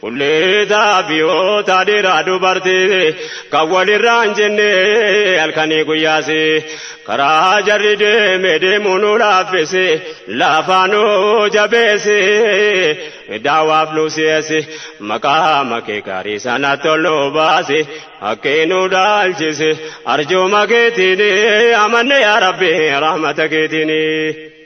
Kulleetaa fi hootaa dhiiraa dubartii kan walirraa hin jenne halkanii guyyaasi karaa jarri deeme deemuu nu laaffisi laafaa nu jabeessi daawaaf nu si'eessi maqaa makee gaarii sana toluu baasi haqqee nu dhaalchisi arjooma keetiin amanne yaa rabbi rahmata keetiin.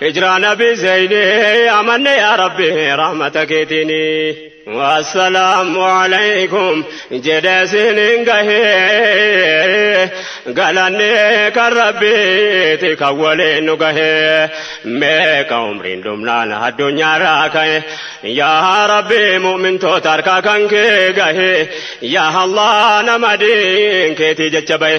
Hijraa nabii zeyni amanne yaa rabbi rahmata keetiini. Assalaamu alaykum jedhe isiniin gahe galanni kan rabbiiti kan waliin nu gahe meeqa umriin dhumnaan addunyaarraa ka'e yaa rabbi mu'mintoota harkaa kan kee gahe yaa allah nama diin keetii jecha bahe.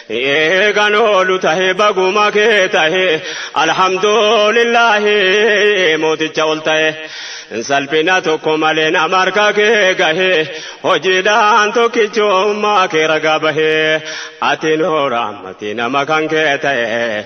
Ee kan oolu tahe baguma kee tahe alhamdulillahi mooticha ol tahe salphina tokko malee nama harka kee gahe hojiidhaan tokkichummaa kee ragaa bahe ati nuura ammati nama kan kee tahe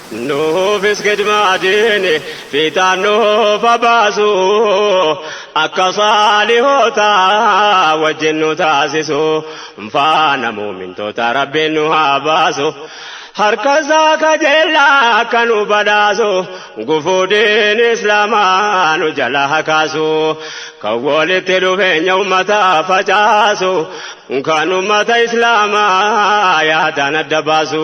Nuufis khidmaatiin fiixaan nuuf haa baasu, akka saalihoota wajjin nu taasisu, faana mu'mintootaa Rabbiin nu haa baasu, harkasaa kajeellaa akka nu badhaasu, gufuu diin Islaamaa nu jalaa haa kaasu, kan walitti dhufeenya ummataa facaasu, kan ummata Islaamaa yaadaan adda baasu,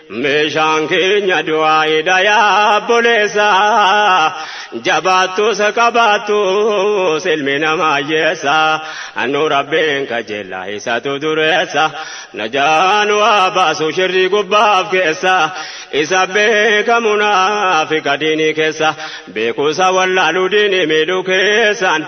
Meeshaan keenya du'aayiidha yaa obboleessa jabaattus qabaattus ilmi namaa hiyyeessa nu rabbiin qajeelaa isatu dureessa najaa nu haa baasu shirrii gubbaaf keessa isa beekamu naafiqa diinii keessa beekuusa wallaaluu diinii miidhuu keessaan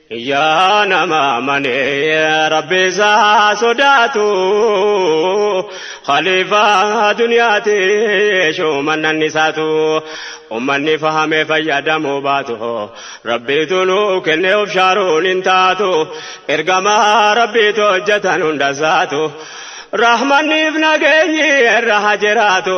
Yaa nama amanee rabbi isaa sodaatu khaliifaa duniyaati shumannan isaatu ummanni fahamee fayyadamuu baatu rabbiitu nu kennee of shaaruun hin taatu ergamaa rabbiitu hojjetan hunda isaatu rahmanniif nageenyi irra haa jiraatu.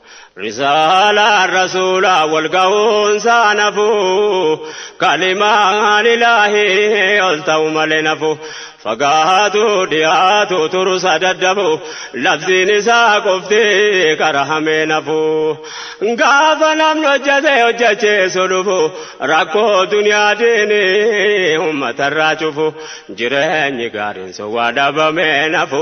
Risaalaan Rasuulaa wal gahuun saa nafu Kalimaan Ilaahii ol ta'u malee nafu Fagaatu dhiyaatu turu sa daddafu Labsiin isaa qofti karahamee nafu Gaafa namni hojjate hojjacheessu dhufu Rakkoo duniyaa diini ummatarraa cufu Jireenyi gaariin sun waa dhabamee nafu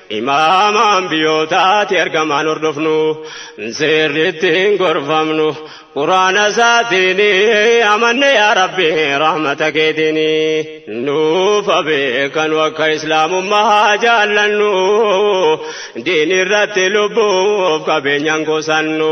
Imaama Anbiyootaati ergamaan hordofnu, seerri ittiin gorfamnu, Qur'aana isaatiin amanne yaa Rabbi rahmata keetiin. Nuuf haa beekanu akka Islaamummaa haa jaallannu, diinirratti lubbuuf qabeenyaan qusannu,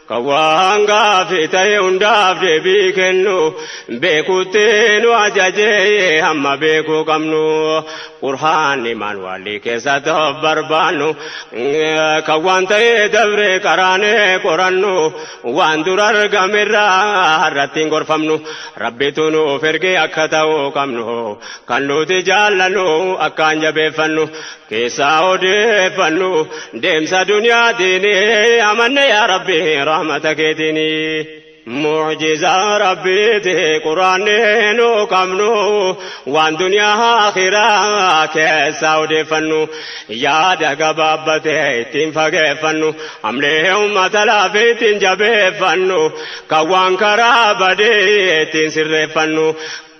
Kan waan gaaffii ta'e hundaaf deebii kennu beekutti nu ajajee hamma beekuu qabnu qurhaanni maanuwaalii keessatti of barbaannu kan waan ta'e dabree qaraanee qorannu waan dura argamerraa har'attiin gorfamnu rabbitu nuuf ergee akka ta'uu qabnu kan nuti jaallannu akkaan jabeeffannu keessaa odeeffannu deemsa duniyaatiin amanne yaa rabbi rahmata keetiin mucjizaa rabbiiti quraanni nu qabnu waan duniyaa akhiraa keessaa odeeffannu yaada gabaabbate ittiin fageeffannu amlee ummata laafee ittiin jabeeffannu kan waan karaa badee ittiin sirreeffannu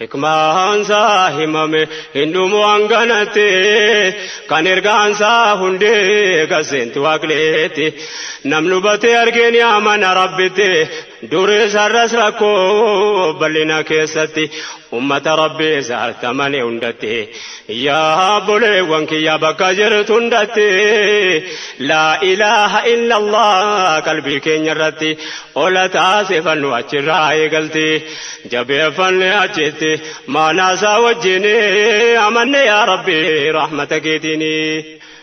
Hikmaansaa himame hin dhumu hanganatti kan ergaansaa hundee kan seentu waaqleetti namni hubatee argee ni amana rabbitti durees har'as rakkoo bal'ina keessatti ummata rabbii isaatti amane hundatti Yaa obboleewwan kiyya bakka jirtu hundatti laa ilaaha illallah qalbii keenya irratti ola taasifannu achirraa eegalti jabeeffanne achitti maanaasaa wajjin amanne yaa rabbi rahmata keetiini.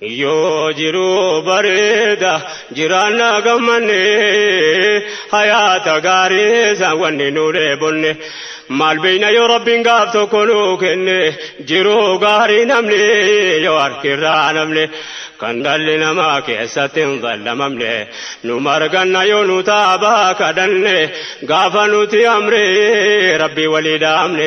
Yoo jiruu bareeda jiraanna gammanne hayaata gaarii san wanni nu dheebonne maal beeyna yoo rabbiin gaaf tokko nu kenne jiruu gaarii namni yoo harkirraa namne kan dhalli namaa keessatti hin zallamamne nu marganna yoo nu taabaa kadhanne gaafa nuti amree rabbii walii dhaamne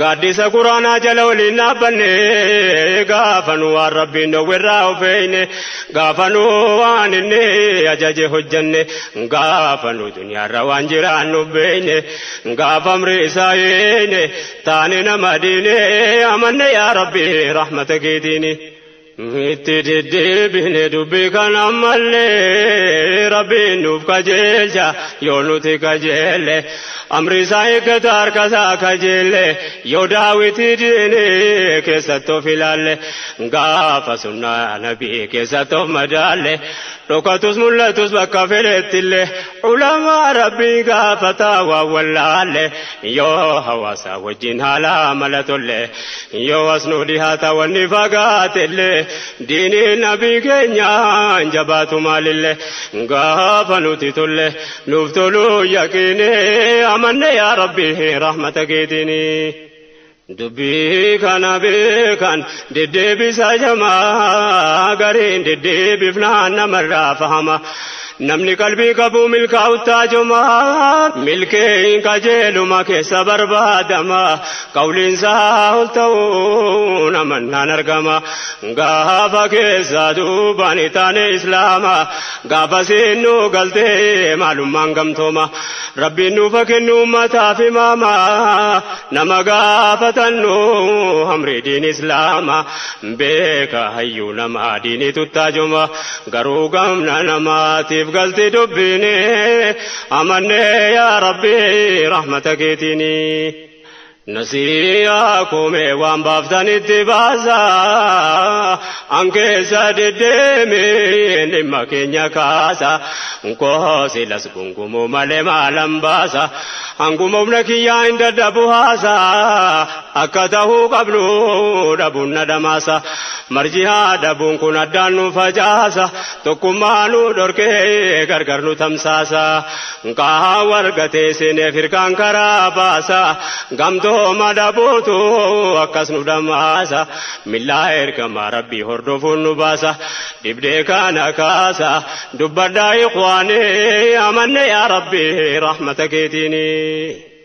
Gaaddisa Quraanaa jala waliin dhaabbanne gaafa nu waan rabbiin dhowwerraa of eeyne gaafa nu waan inni ajaje hojjanne gaafa nu duniyaarra waan jiraannu beeyne gaafa amri isaa eeyne taane nama diine amanne yaa rabbi rahmata keetiini. Itti deddeebine dubbii kan ammallee rabbiin nuuf kajeelcha yoo nuti kajeelle amri isaa eeggata harka isaa kajeelle yoo daawwitii diini keessatti of ilaalle gaafa sunnaa nabii keessatti of madaalle dhokatus mul'atus bakka fedhettillee ulamaa rabbii gaafataa waan wallaalle Yoo hawaasa wajjin haala mala tolle yoo as nu dhihaata wanni fagaatelle diinii nabii keenyaan jabaatu maalille gaafa nuti tolle nuuf toluu yaqiine amanne yaa rabbi rahmata keetiini. Dubbii kana beekan deddeebisa jama gariin deddeebifnaan namarraa fahama. Namni qalbii qabu milkaa'uttaa joma milkeeyin qajeeluma keessa barbaadama. Qawliinsaa ol ta'uun amannaan argama. Gaafa keessa duubaan taane islaama. Gaafasiin nu galtee maalummaan gamtooma rabbiin nuufa kennu ummataaf himaama nama gaafatannu hamrii diin islaama beeka hayyuu nama diinii tuttaajoma garuu gamna namaatiif galti dubbiini amannee yaa rabbi rahmata keetiini. Nasiyaa kumee waan baaftan itti baasa an keessa deddeemee dhimma keenya kaasa nkoosi las gungumuu malee maalan baasa hanguma humna kiyyaa hin dadhabu haasa akka tahuu qabnu dhabuun na dhamaasa marjihaa dhabuun kun addaan nu facaasa tokkummaa nu dhorkee gargar nu tamsaasa Nkaha wargatee seeneef hirkaan karaa baasa gamtooma dhabuutu akkas nu dhammaasa millaa ergamaa rabbii hordofuun nu baasa dhibdee kana kaasa dubbadhaa ikhwaanii amanne yaa rabbii rahmata keetiinii.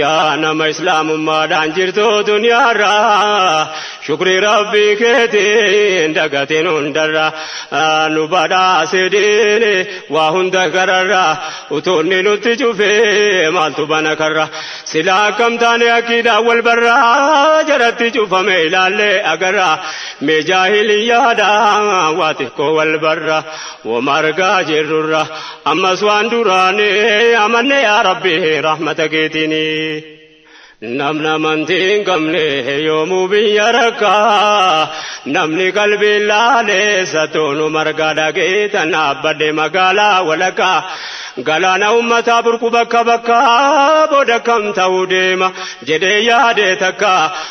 Yaa nama islaamummaadhaan jirtu duniyaarra shukrii rabbii keetiin dagatiin hundarra nu badhaase diini waa hunda gararra utuunni nutti cufe maaltu bana karra silaa akkam taane akkiidhaan wal barra jaratti cufame ilaallee agarra mee jaahiliyyaadha waa xiqqoo wal barra woma argaa jirrurra Ammas waan duraani amanne yaa Rabbi rahmata keetiini. Namni amantii hin qabne yoomuu biyya rakkaa. Namni qalbii laaleessa toonu margaa dhageetan dhaabbadhe magaalaa walakkaa. Galaana ummataa burqu bakka bakkaa booda kam ta'uu deema jedhee yaadee takka.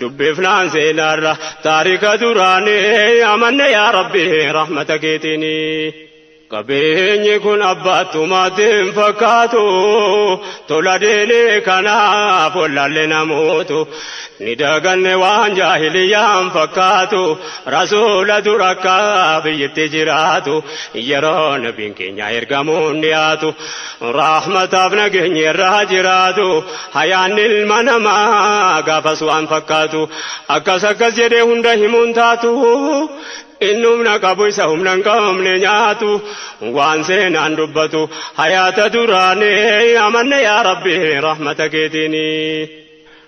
Dubbifnaan seenaarra taarika duraanii amanne yaa rabbi rahmata keetiini. Qabeenyi kun abbaattumaatti hin fakkaatu tola diinii kanaaf wallaalle namootu ni daganne waan jaahiliyyaan fakkaatu rasuula dura akka biyyitti jiraatu yeroo nabiin keenya ergamuun dhiyaatu Rahmataaf nageenyi irra haa jiraatu. Hayaan ilma namaa gaafas waan fakkaatu. Akkas akkas jedhee hunda himuun taatu. Inni humna qabu isa humna hin qabne nyaatu. Waan seenaan dubbatu hayaata duraanii amanne yaa Rabbi rahmata keetiini.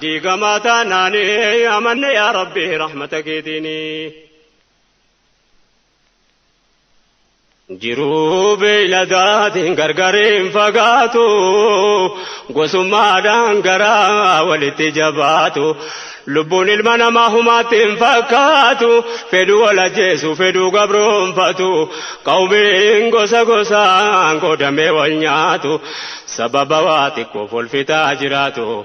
diigamaa taanaani amanne yaa rabbi rahmata keetiini jiruu beeyladaatiin gargariin fagaatu gosummaadhaan garaa walitti jabaatu lubbuun ilma namaa humaatti hin fakkaatu fedhuu wal ajjeesu fedhuu gabroonfatu qawmiin gosa gosaan qoodamee wal nyaatu sababa waa xiqqoof wal fixaa jiraatu.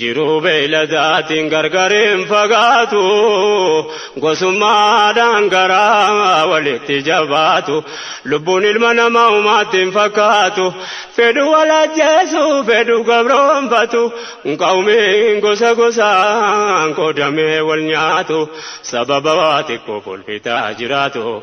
Jiruu beeyladaatiin gargar hin fagaatu, gosummaadhaan garaa walitti jabaatu. Lubbuun ilma namaa umaatti hin fakkaatu, fedhu wal ajjeesu, fedhu gabroomfatu. Qawmiin gosa gosaan qoodamee wal nyaatu, sababa waa xiqqoof wal fixaa jiraatu.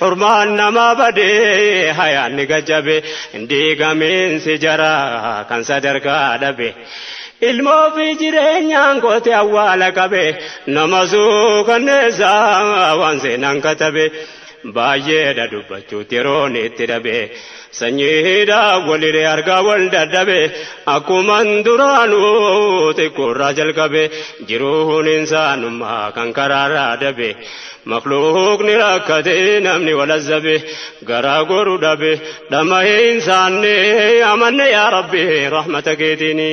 Hurmaan namaa badee hayaanni gajjabe diigamiinsi jaraa kan sadarkaa dhabe ilmoo fi jireenyaan goote awwaala qabe nama suukanneessa waan seenaan katabe baay'eedha dubbachuutti yeroon itti dhabe. Sanyii hidhaa waliree argaa wal dadhabe akkuman duraanuu xiqqoorraa jalqabe jiruun insaanummaa kan karaarraa dabe makluuqni rakkate namni wal azzabe garaa goru dhabe dhama'ee insaanne amanne yaa rabbi rahmata keetiini.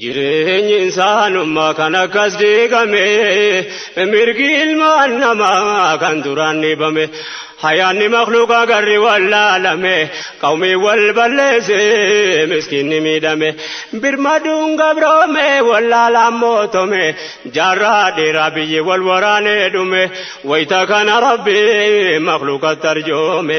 Jireenyi insaanummaa kan akkas diigame mirgi ilmaan namaa kan duraan dhiibame hayaanni makluuqaa garri wallaalame qawmii wal balleesse miskiinni miidhame birmaduun gabroome wallaalaan mootome jaarraa dheeraa biyyi wal waraanee dhume wayita kana rabbi makluuqatti arjoome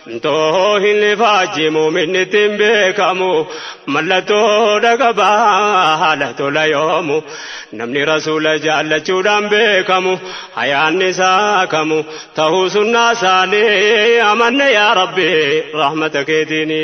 Ntoo hin ifaaji muuminni ittiin beekamu mallattoo dhaqaba haala tola yoomu namni rasuula jaallachuudhaan beekamu hayaanni isaa kamu ta'uu sunnaa isaanii amanne yaa rabbi rahmata keetiini.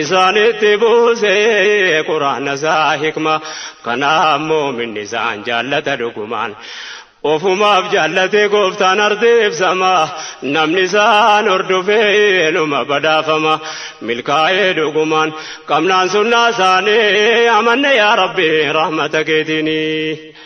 isaanitti buuse quraana isaa hikma kanaaf moominni isaan jaallata dhugumaan ofumaaf jaallate gooftaan ardeebsama namni isaan hordofee numa badhaafama milkaa'ee dhugumaan qabnaan sunnaa isaanii amanne yaa rabbi rahmata keetiinii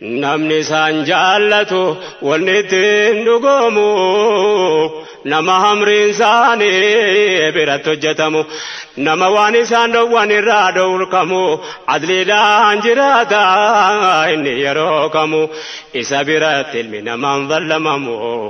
Namni isaan jaallatu wanni ittiin dhugoomu nama hamriin isaanii biratti hojjetamu nama waan isaan dhowwan irraa dhowrkamu adliidhaan jiraata inni yeroo kamu isa biratti ilmi namaan vallamamu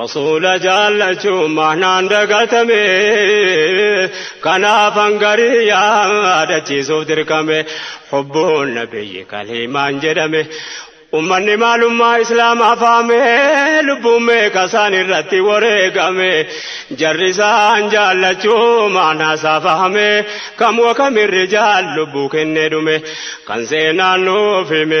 Rasuula jaallachuun mahnaan dagatame kanaaf hangarii yaadachiisuuf dirqame hubbuun nabiyyi kaliimaan jedhame ummanni maalummaa islaamaa faame lubbuun meeqa isaan irratti wareegame jarri isaan jaallachuu maanaa isaa fahame kam wakamirri jaal lubbuu kennee dhume kan seenaan nuuf hime